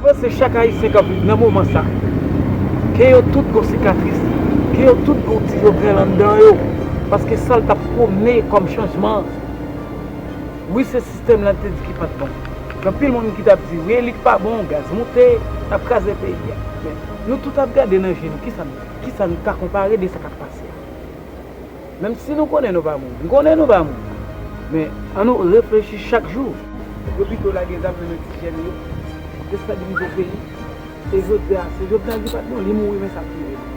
Mwen panse chak ayisyen kap viv nan moman sa, kè yo tout gon sikatris, kè yo tout gon ti Jovenel anndan yo, paske sal tap pwomne kòm chanjman, wi se sistèm la te di ki pat bon, gen anpil moun ki tap di relik pa bon, gaz moute, nap kraze peyi a. Nou tout ap gade nan je nou kisa nou kisa nou ka konpare de sa kap pase a. Menm si nou konnen nou pa moun, m konnen nou pa moun, men an nou reflechi chak jou. Yo pito lage zam nan men ti jèn yo, destabilize peyi, e jodi a se Jovenel ki pat bon, li mouri men sa ap rive nou.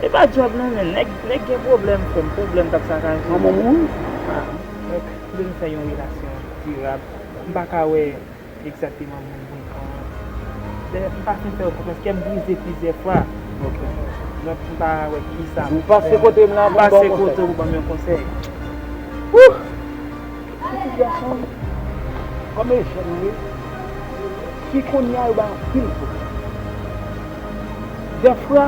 E pa job non men neg gen problem frem problem kap sakaje yo mwen vle fè yon relasyon dirab m paka wè egzakteman moun pou m pran an dayè m pa fin fè yo konfyans kèm brize plizyè fwa donk m pa wè kisa pou m fè m pase kote w pou banm yon konsèy. Pitit gason m kòm Ejèn ye fi kounye a yo bay anpil kote. Dèfwa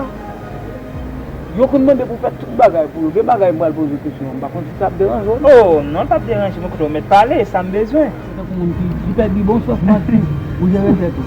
yo konn mande pou fè tout bagay pou yo. Gen bagay m pral poze w kesyon an m pa konn si sa ap deranje w. O non l pap deranje m kote w mèt pale sa m bezwen. Se tankou moun ki pèdi bon sans manti ou jere tèt ou.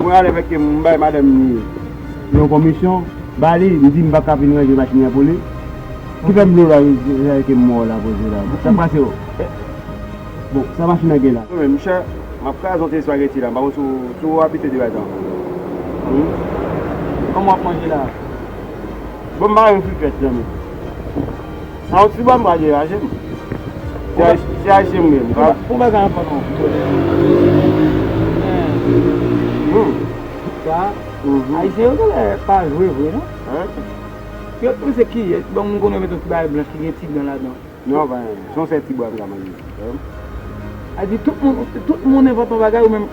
Mwen ale vè kem m bay madanm ni yon konmisyon ba li m di m paka vin ranje machin nan pou li ki fè m vle bay zè kem mò la koze la sak pase o bon sa machin nan gen la. Mwen menm m chè map kraze yon ti espageti la m pa konn si ou abitye de bagay sa humm kòman wap manje la bon m pa renmen frikèt zanmi. Sa ou t di bwa m pral deraje m. Se ayisyen m ye m pa. Pou bagay an pran long kote m ye. Humm. Sa ayisyen yo genlè pa jwe vre non. Yo t panse ki yè bon m konnen yo met yon ti bagay blanch ki gen ti dan ladan. Non pa gen se yon sèl ti bwa m ka manje. Ayiti tout moun tout moun envante yon bagay ou menm.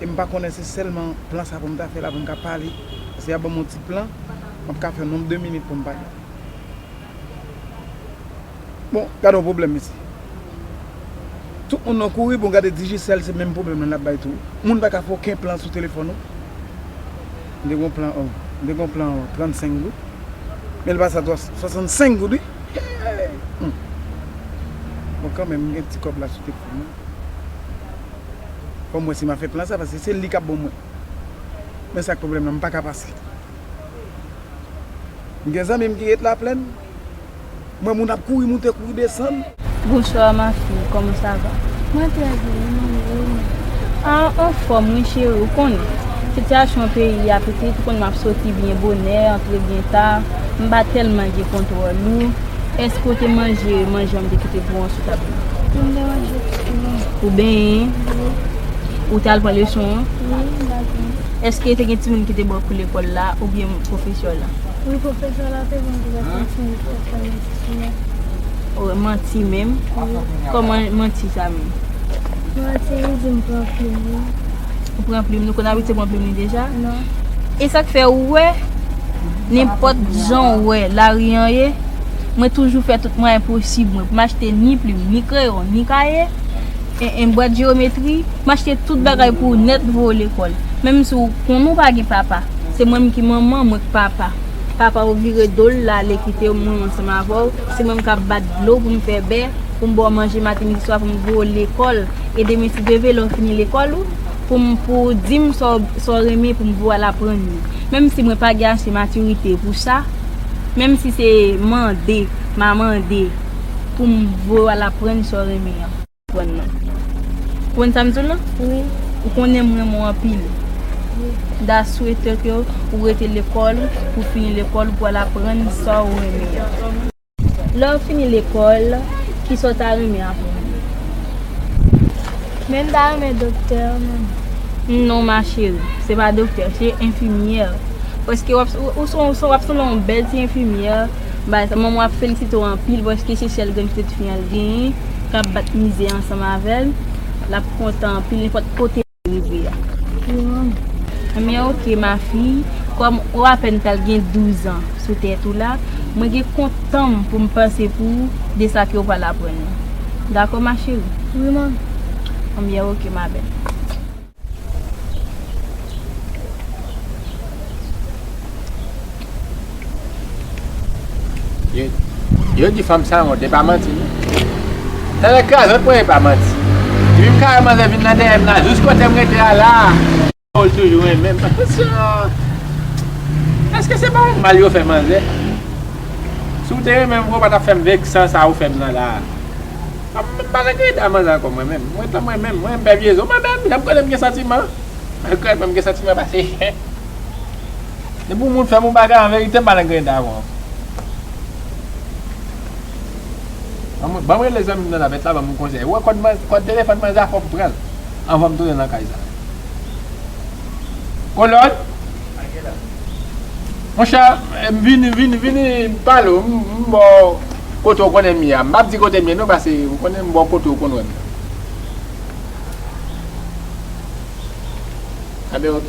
e m pa konnen se sèlman plan sa pou m ta fè la pou m ka pale paske y ap ban m yon ti plan m ap ka fè yon nonb de minit pou m pale bon gade yon pwoblèm mesye tout moun nan kouri bon gade Digicel se menm pwoblèm lan l ap bay tou moun pa ka fè oken plan sou telefòn ou m te gen yon plan an m te gen yon plan 35 goud men l pase a 65 goud wi hee bon kanmenm m gen ti kòb la sou telefòn mwen. Fòm wè si ma fè plan sa paske se li kap bon mwen. Men sak pwoblèm nan m paka pase. M gen zanmim ki ret laplèn. M wè moun ap kouri moute kouri desann. Bonsoir ma fille koman sa va. Mwen trè byen e nou menm ou menm. Ah anfòm wi cheri ou konnen sitiyasyon peyi a pitit ou konnen map soti byen bonè antre byen ta m pa tèlman gen kontwòl ou. Èske ou te manje manje an m te kite pou an sou tab la? Wi, m te manje tou. Ou benyen? Wi. Ou te al pran leson an? Wi, m te al pran leson an. Èske te gen timoun ki te ban kou lekòl la oubyen pwofesè la? Wi, pwofesè la te ban kou lekòl timoun pou yo fè manti menm. O, manti menm? Wi. Kòman manti sa menm? Manti li di m pran plim li. Ou pran plim, nou konn abitye pran plim li deja. E sak fè ou wè, nenpòt jan ou wè lari an ye, mwen toujou fè tout mwayen posib mwen pou m achte ni plim, ni kreyon, ni kaye, en bwat jewometri, m achte tout bagay pou ou nèt voye w lekòl. Menm si ou konnen ou pa gen papa, se mwen menm ki manman, mwen k papa. Papa ou vire do l lale kite w mwen ansanm avè w, se mwen menm k ap bat dlo pou m fè bè, pou m ba w manje maten midi swa pou m voye w lekòl. E demen si Dye ve lè w fini lekòl ou pou m pou w di m sa w sa w renmen pou m pou w al aprann li. Menm si mwen pa gen ase matirite pou sa, menm si se mande m a mande pou m voye w al aprann sa w renmen an. Prann nan. Konprann sa m di w lan? Wi. Ou konnen m renmen w anpil. Wi. Da swete ke ou rete lekòl ou pou w fini lekòl ou pou w al aprann sa w renmen an. Lè w fini lekòl, ki sa w ta renmen aprann? Men m ta renmen doktè, manman. Non ma cheri, se pa doktè, se enfimyè. Paske w ap sou w ap sanble yon bèl ti enfimyè, bay sa. Manman w ap felisite w anpil paske se sèl grenn pitit fi an l genyen k ap bat mize ansanm avè l. L ap kontan anpil nenpòt kote. rive a. Ebyen ok ma fille, kòm ou apèn pral gen 12 ans sou tèt ou la, mwen gen kont tan'm pou'm panse pou ou de sa ke ou pral aprann yo. Dakò ma chérie? Wi manmi. Ebyen ok ma belle. Yo di fanm san wont, e pa manti non. Sa nan krazòt mwen e pa manti. Depi m kare manzè vin nan dèyè m la, jous kote m rete a la a. Ou l toujou renmen m. Eske se pa yon mal yo fè manzè? Si w te renmen m vre ou pa t ap fè m veksan sa ou fè m nan la a. M pa nan gade dan manzè ankò mwen menm. Mwen tanm renmen m. Mwen m pè vye zo. Mwen menm, lè m konnen m gen santiman, m konnen m gen santiman pase. Depi yon moun fè bon bagay an verite pa nan grenn dagou an. Banm rele zanmi m nan navèt la banm yon konsèy. Ou wè kòd telefòn manzè a fòm pranl anvanm tounen nan kay sa. Kolòn. Monchè m vini vini vini m pale w m ba w kote w konnen m ye a. M pap di kote m ye non pase ou konnen m ba w kote ou konn wè m nan. Abe ok.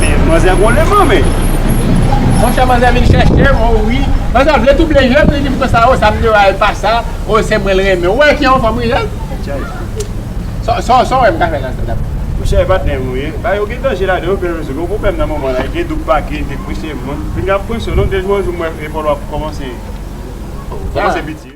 Men manzè gon leman men. Monchè manzè vin chèche m oh wi. Manzè vle double je m li dim konsa oh sa m di oh al pa sa oh se mwen l renmen. Ou wè ki yon fanm wi jel. Sa w wè m ka fè nan sa dapre w. Monchè e pa denm ou ye. Bagay yo gen danje ladan yo bel rezo. Gen yon pwoblèm nan moman la. Gen doub pake te kwense moun. Vin gen ap kwense w non. Gen jou yon jou m wè epòl w ap kòmanse piti.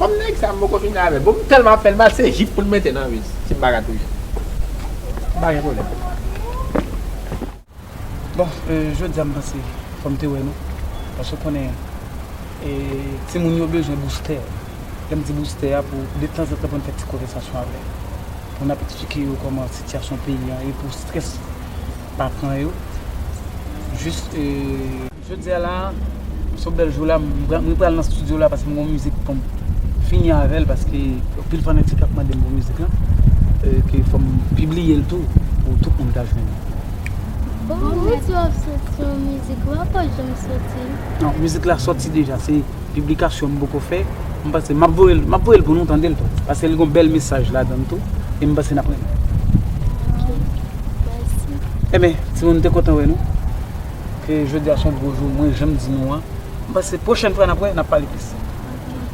Kòm nèg sa m poko fini avè l bon m tèlman ap fè l mal se jip pou l mete nan vès si m pa ka touye l m pa gen pwoblèm. Bon jodi a m panse fò m te wè nou paske w konnen timoun yo bezwen boustè lè m di boustè a pou detanzantan pou n fè ti konvèsasyon avè pou n ap eksplike yo kòman sitiyasyon peyi a ye pou strès pa pran yo jis. Jodia la so bèl jou la mwen pral nan studio la paske m gon mizik poum fini avèl paske anpil fanatik ap mandem pou mizik lan ke fòm pibliyel tou pou tout moun ka jwenn li. Bon mwen di wap soti yon mizik ou pap janm soti. Non mizik la soti deja se piblikasyon m poko fè m panse map voyel map voyel pou nou tandel tou paske li gon bèl mesaj ladann tou e m panse nap renmen. Ok mèsi. Enben timoun m te kontan wè nou. ke jodi a son gwo jou mwen janm di nou an m panse pwochèn fwa nap wè nap pale plis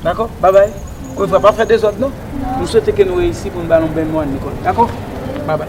dakò babay anko yon fwa pa fè dezòd non m swete ke nou reyisi poun ba nou bèl mwa Nicole dakò babay.